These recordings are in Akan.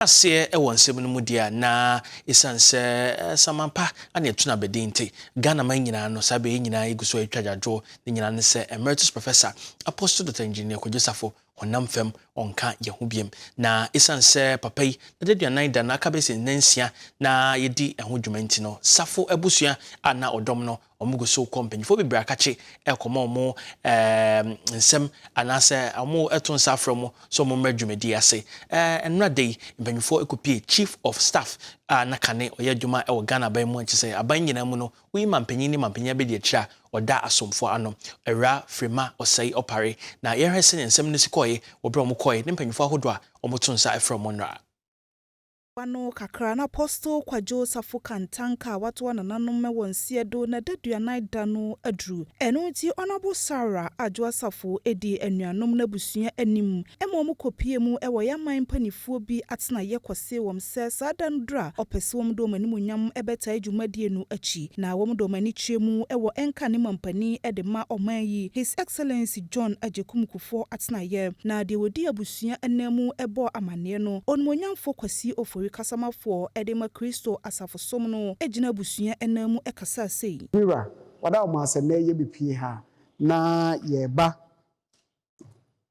aseɛ wɔ nsɛm no mu deɛ a, na ɛsiane sɛ Samanpa ane Atunu abɛdin nti, Ghanaman nyinaa no, saa berɛ yi nyinaa yɛgu so retwa agyaadwoɔ, ne nyinaa ne sɛ Emeritus Professor, Apostle Doctor Engineer Kwadwo Safo, honam fam, ɔnka yɛn ho biom. Na ɛsiane sɛ papa yi n'adaduanan da no aka bɛyɛ sɛ nnansia na yɛdi ɛho dwuma nti no, Safo abusua a na ɔdɔm no, Wɔn gu so kɔ mpanyinfoɔ bebree akakye ɛkɔma wɔn ɛɛ nsɛm anaasɛ wɔn ɛto nsa afrɛ wɔn sɛ wɔn mmra dwumadie ase. Ɛɛ ɛnora da yi mpanyinfoɔ ɛkɔpie chief of staff a na kane ɔyɛ adwuma ɛwɔ Ghana aban mu a kyesɛ aban nyinaa mu no woyi mampanyin ne mampanyin abadiakyire a ɔda asomfoɔ ano Awura Frema Osei Opare na yɛnhwɛ sɛnea nsɛm no si kɔɔye wɔ berɛ a wɔn kɔɔye ne mpanyinfoɔ ahodoɔ a wɔn to nsa ɛfrɛ wɔn nnora. Mbowa no kakra na Apostle Kwadwo Safo Kantanka a ɔatoa nananom wɔ nseɛ do na daduanan da no aduru. Ɛno nti Honourable Sarah Adwoa Asafo dii anuanom n'abusua anim ma wɔn kɔpie mu wɔ yɛn aman mpaninfoɔ bi atenaeɛ kɔsee wɔn sɛ saa da no duru a ɔpɛ sɛ wɔn de wɔn animuonyam bɛtae dwumadie no akyi na wɔn de wɔn ani kyerɛ mu wɔ ɛnka ne mampanin de ma ɔman yi His Excellency John Agyekum Kufour atenaeɛ na deɛ ɔdi abusua abusua ananmu bɔɔ amanneɛ no, Onuonyamfo Kwasi Ofori kasamafoɔ de ma Kristo Asafo Som no gyina abusua ananmu kasaa sei. Mira, wada wɔn ase nnɛ yɛ bepue ha na yɛreba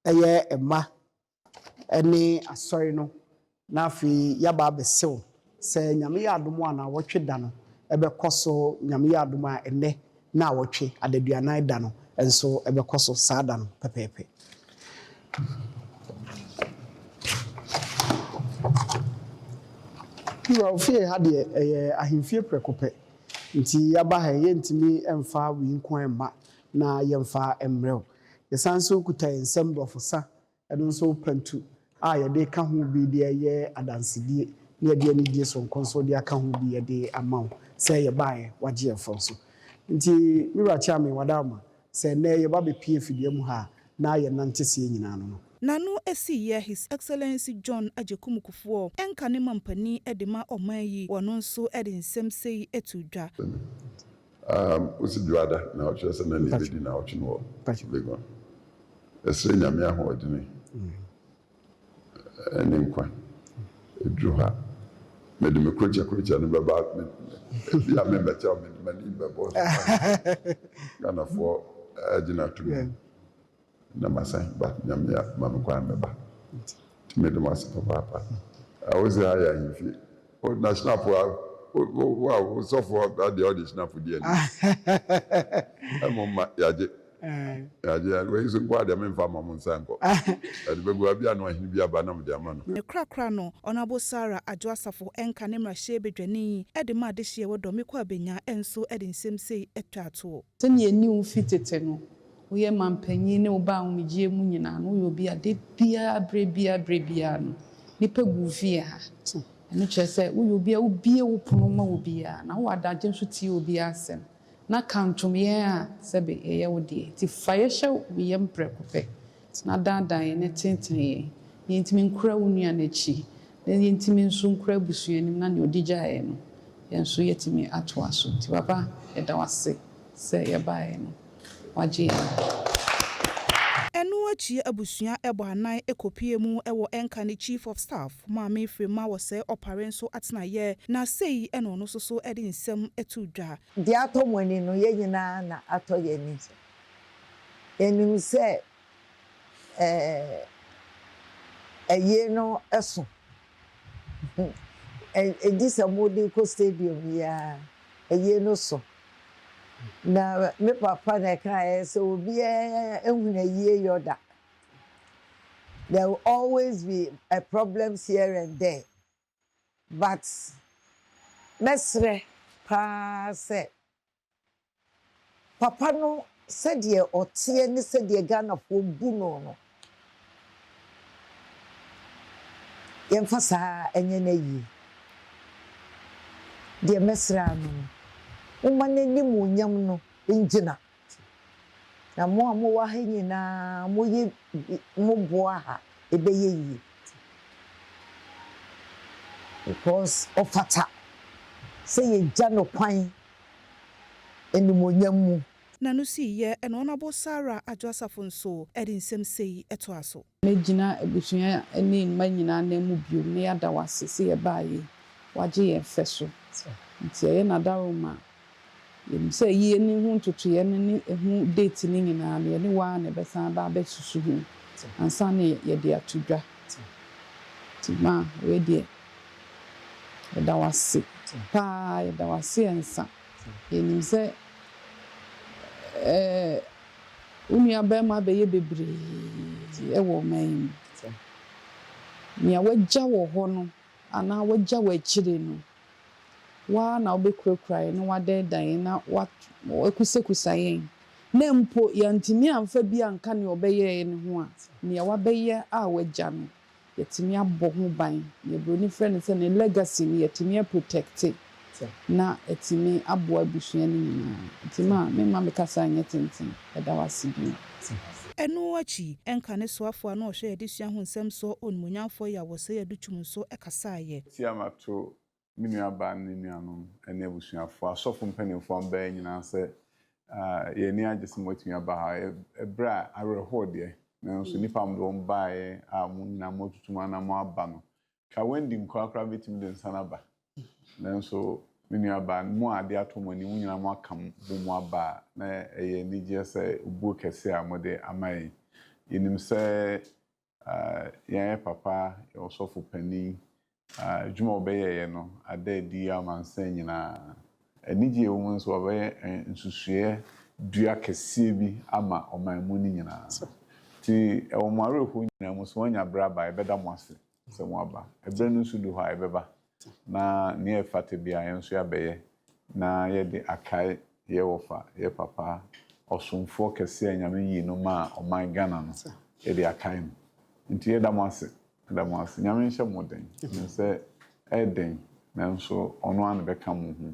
yɛ mma ne Asɔre no Na afei yɛaba abɛsew sɛ Nyame yɛ adom a naawɔtwe da no bɛkɔ so, Nyame yɛ adom a ɛnnɛ naawɔtwe adaduanan da no nso bɛkɔ so saa da no pɛpɛɛpɛ. Na ofie ha deɛ ɛyɛ ahemfie prɛko pɛ, nti yɛaba ha yi yɛntumi mfa wei nko ara mma na yɛmfa mmrɛw. Yɛsan nso kuta yɛn nsam borɔfosa Ɛno nso pantu a yɛde ka ho bi de yɛ adansedie na yɛde anidie sononko nso de aka ho bi de ama wo sɛ yɛbaeɛ wagye yɛn fam so. Nti me wura Kyeame Wadarma sɛ nnɛ yɛba bɛpie fidua mu ha na yɛnante seɛ nyinaa no no. N'ano asi yɛ His Excellency John Agyekum Kufuɔ, ɛnka ne mampanin de ma ɔman yi, wɔno nso de nsɛm sei too dwa. Um osi dwoada na ɔkyerɛ sɛ na nea ebedi naawɔtwe no wɔ Legon. Ɛsrɛ Nyame ahoɔdene ne nkwa. Eduru hɔ a mede me krokyɛkrokyɛ no bɛba ebi a memmɛkyɛ wo mede m'anim bɛbɔ so Ghanafoɔ agye no ato mu. Na masan ba, Nyame a ma me kwan mɛba nti mede mo ase papaapa. Wo se ha yɛ ahemfie. O na Shinapɔ a wo a wo sɔfo a deɛ ɔde Shinapɔ di anim a mo mma yɛagye yɛagye a wei nso nko a deɛ memfa mma mo nsa nkɔ yɛde bɛgu hɔ a bia na ɔhene bi aba na mode ama no. Ne korakora no, Honourable Sarah Adwoa Asafo ɛnka ne mmarahyɛbadwani de ma adehyeɛ wɔ Dɔmiko Abenya nso de nsɛm sei twaa toɔ. Sɛnea ɛnni wo fi tete no, Woyɛ manpanyin ne wo ba ahomegyeɛ mu nyinaa no, woyɛ obi a da biara, berɛ biara, berɛ biara no, nnipa gu wo fie ha. Ɛno kyerɛ sɛ woyɛ obi a wobue wo pono ma obiara, na wowɔ adagye nso tie obiara asɛm, na ka ntom yɛn a sɛbe yɛyɛ wo deɛ. Enti fa yɛn hyɛ wo yam prɛko pɛ, na daadaa yɛn, na tenetene yɛn, na yɛntumi nkura wo nua no akyi, na yɛntumi nso nkura abusua anim, na deɛ ɔde gyaeɛ no, yɛn nso yɛatumi atoa so. Enti Papa, yɛda wo ase sɛ yɛbaeɛ no. wɔagye adi. Ɛno akyi abusua bɔ anan kɔpue mu wɔ ɛnka ne Chief of Staff, Maame Firimah Wɔsɛe Ɔpare nso atenaeɛ, na sei na ɔno nso so de nsɛm too dwa. Deɛ atɔ mo ani no, yɛn nyinaa na atɔ yɛn ani. Yɛnim sɛ ɛɛ, ayie no so Gye sɛ mode kɔ stadium yi ara, ɛyei no so. Na me papa na ɛkaeɛ sɛ obiara nhunu ayie yɔ da. There will always be a problems here and there but mɛsrɛ pa ara sɛ Papa no sɛdeɛ ɔteɛ ne sɛdeɛ Ghanafoɔ bu no no, yɛmfa saa nyɛ no ayie. Deɛ mɛsrɛ ara no no, momma n'animuonyam no ngyina. Na mo a mowɔ ha nyinaa moyɛ bi, moboa ha, ɛbɛyɛ yie. Because ɔfata sɛ yɛgya no kwan. animuonyam mu. Na no sii yɛ ɛna ɔna bo Sarah adwo asafo nso ɛde nsɛm sei ɛtoa so. Me gyina abusua ɛne mma nyinaa nan mu biom na yɛada wo ase sɛ yɛbaa yei wagye yɛn fɛ so nti ɛyɛ na daworo ma yɛnim sɛ yi ɛni ho ntotoeɛ no ne ɛho date no nyinaa no yɛne wo ara na ɛbɛsan aba abɛ susu ho ansa na yɛde ato dwa nti ma wei deɛ Yɛda wo ase paa, yɛda wo ase ɛnsa. Yɛnim sɛ ɛɛ wo nuabarima abɛyɛ bebree wɔ ɔman yi mu. Nea wagya wɔ hɔ no anaa wagya wɔ akyire no, wo ara na wobɛkurakura yɛn na woadɛɛdɛɛ yɛn na woakusakusa yɛn na mpo yɛantumi amfa bi anka nea ɔbɛyɛeɛ no ho a, nea wabɛyɛ a wagya no. yɛtumi abɔ ho ban, deɛ broni frɛ no sɛ ne legacy no yɛtumi a protect na atumi aboa abusua no nyinaa. Nti ma me mma me kasa nyɛ tenten. Yɛda wo ase bio. Ɛno akyi, ɛnka ne soafoɔ a na ɔhwɛ adesua ho nsɛm soɔ Onimuonyamfoɔ Yawɔsei Adukyum nso kasaeɛ. Tiamat to me nuabaa ne ne nuanom ne abusuafo, asɔfo mpanyimfo a wɔbae nyinaa sɛ, Yɛn ani agye sɛ moatumi aba ha. Bere a awerɛhow deɛ, nanso nnipa a wɔde wɔn baeɛ a mo nyinaa moatutu mo anan moaba no, ka Wendy nko ara koraa betumi de nsa no aba. Nanso me nuabaa, mo a ade atɔ mo ani, mo nyinaa moaka bom aba a, na ɛyɛ anigye sɛ obuo kɛse a mode ama yɛn. Yenim sɛ Yɛn papa, yɛn ɔsɔfo panin, adwuma a ɔbɛyɛeɛ no ada adi amansan nyinaa. Anigyeɛ a ɛwɔ mu ne sɛ wabɛyɛ nsusuiɛ dua kɛseɛ bi ama ɔman mu no nyinaa. Enti wɔ mo awerɛhoɔ nyinaa mu, sɛ wanya berɛ aba a, yɛbɛda mo ase sɛ moaba. Ɛberɛ no nso du hɔ a, ɛbɛba. Na nea ɛfata biara yɛn nso yɛabɛyɛ na yɛde akae yɛ wɔfa, yɛ papa, ɔsomfoɔ kɛseɛ a Nyame yii no maa ɔman Ghana no, yɛde akae no. Nti yɛda mo ase, yɛda mo ase. Nyame nhyɛ mo den. Menim sɛ ɛyɛ den nanso ɔno ara na ɛbɛka mo ho.